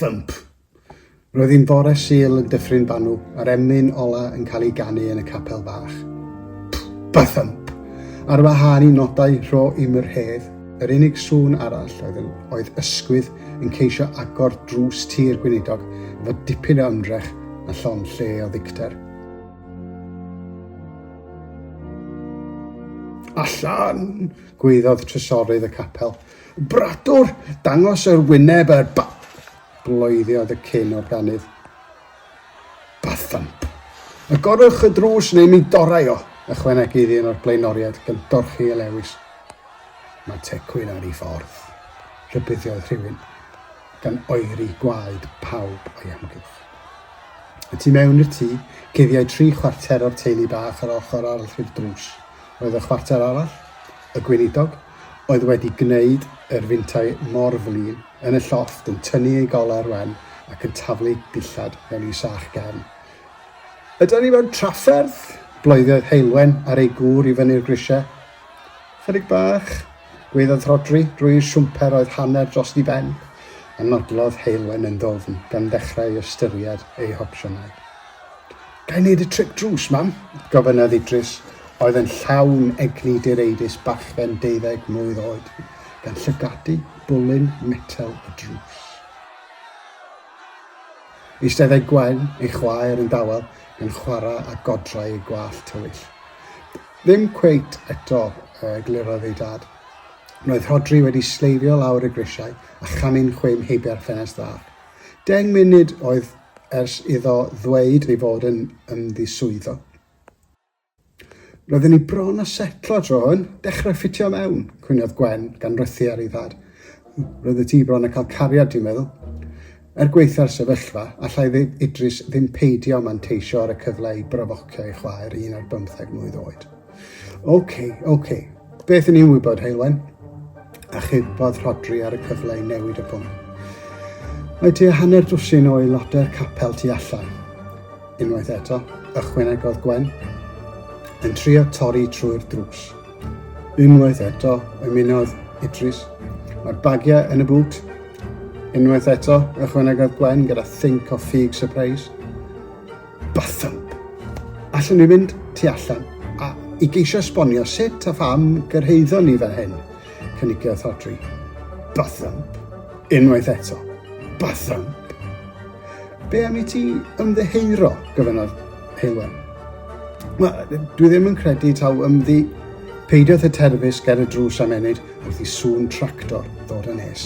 Thump! Roedd hi'n fore Sul yn Dyffryn Banw a'r emyn ola yn cael ei ganu yn y capel fach. Bathump! Ar wahân i nodau rho i'm yr hedd, yr unig sŵn arall oedd, yn, oedd ysgwydd yn ceisio agor drws tir gweinidog efo dipyn o ymdrech a llon lle o ddicter. Allan! gwaeddodd trysorydd y capel. Bradwr, dangos yr wyneb er ba... Bloediodd y cyn o'r ganydd. Bathump! Agorwch y drws neu mi dorai o, ychwanegu iddi yn o'r blaenoriaid gan dorchi ei lewis. Mae tecwyn ar ei ffordd, rhybuddiodd rhywun. gan oeri gwaed pawb o'i amgylch. Y tu mewn i'r tŷ, cuddiau tri chwarter o'r teulu bach ar ochr arall i'r drws. Roedd y chwarter arall, y gweinidog, oedd wedi gwneud yr fintau mor flin, yn y llofft, yn tynnu ei goler wen ac yn taflu dillad mewn i sach gefn. Ydan ni mewn trafferth? bloeddodd Heulwen ar ei gŵr i fyny'r grisiau. Chydig bach, gwaeddodd Rhodri, drwy'r siwmper oedd hanner drost i ben, a nodlodd Heulwen yn ddwfn, gan ddechrau i ystyried ei hopsiynau. Ga i wneud y trip drws, mam? gofynnodd Idris, oedd yn llawn egni direidus bachgen deuddeg mlwydd oed, gan llygadu bwlyn metel y drws. Eisteddai Gwen, ei chwaer, yn dawel, gan chwarae â godrau ei gwallt tywyll. Ddim cweit eto, eglurodd ei dad. Roedd Rhodri wedi sleifio lawr y grisiau a chamu'n chwim heibio'r ffenest fach. Deng munud oedd ers iddo ddweud ei fod yn ymddiswyddo. Roedden ni bron â setlo tro hwn, dechrau ffitio mewn, cwniodd Gwen, gan rythu ar ei thad. Roeddet ti bron â cael cariad, dwi'n meddwl. Er gwaetha'r sefyllfa, allai Idris ddim peidio manteisio ar y cyfle i brofocio ei chwaer un ar bymtheg mlwydd oed. OK, OK. Beth yn i'n wybod, Heulwen? Achubodd Rhodri ar y cyfle i newid y pwnc. Mae tua hanner dwsin o aelodau'r capel tu allan. Unwaith eto, ychwanegodd Gwen, yn trio torri trwy'r drws. Unwaith eto, ymunodd Idris. Mae'r bagiau yn y bŵt. Unwaith eto, ychwanegodd Gwen gyda think o ffug surprise. Bathump! Allwn ni fynd tu allan a i geisio esbonio sut a pham gyrhaeddon ni fel hyn, cynigiodd Thodri. Bathump! Unwaith eto. Bathump! Be am i ti ymddeheuro, gofynnodd Hywel. Wel, dwi ddim yn credu taw ymddi peidiwth y terfys ger y drws am enid wrth i sŵn tractor ddod yn nes.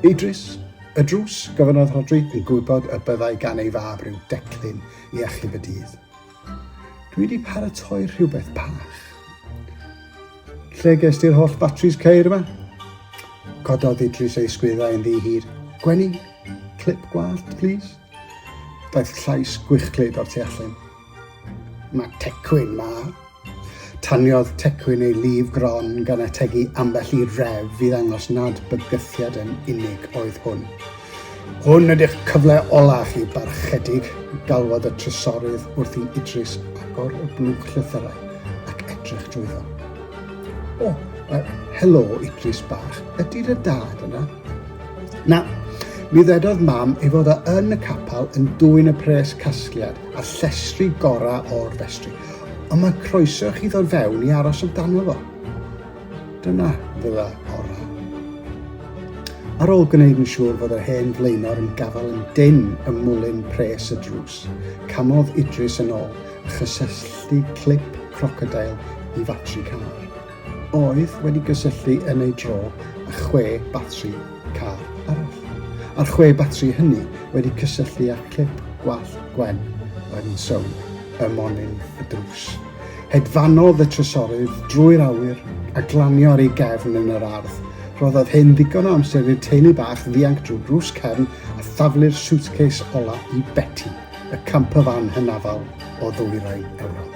Idris, y drws, gofynnodd Rhodri yn gwybod y byddai gan ei fab rhyw declyn i achub y dydd. Dwi wedi paratoi rhywbeth bach. Lle ges ti'r holl batris ceir yma? Cododd Idris ei sgwyddau yn ddi hir. Gwenny, clip gwallt, please. Daeth llais gwychglyd o'r tu allan. Mae Tecwyn 'ma! Taniodd Tecwyn ei lif gron gan ategu ambell i ref i ddangos nad bygythiad yn unig oedd hwn. Hwn ydy'ch cyfle ola chi, barchedig, galwodd y trysorydd wrth i Idris agor y blwch llythyrau ac edrych drwyddo. O, uh, helo, Idris bach, ydy'r y dad yna? Na, mi ddedodd mam ei fod o yn y capel yn dwyn y pres casgliad a llestri gorau o'r festri, ond mae croeso chi ddod fewn i aros amdano fo. Dyna ddyle orau. Ar ôl gwneud yn siŵr fod yr hen flaenor yn gafael yn dyn ym mwlyn pres y drws, camodd Idris yn ôl a chysylltu clip crocodail i fatri car. oedd wedi gysylltu yn ei dro â chwe batri car arall, a'r chwe batri hynny wedi cysylltu â clip gwallt Gwen oedd yn sownd ym monyn y drws. Hedfanodd y trysorydd drwy'r awyr a glanio ar ei gefn yn yr ardd. Rhoddodd hyn ddigon o amser i'r teulu bach ddianc drwy'r drws cefn a thaflu'r suitcase ola i Betty. y campyfan hynafol o ddwyrain Ewrop.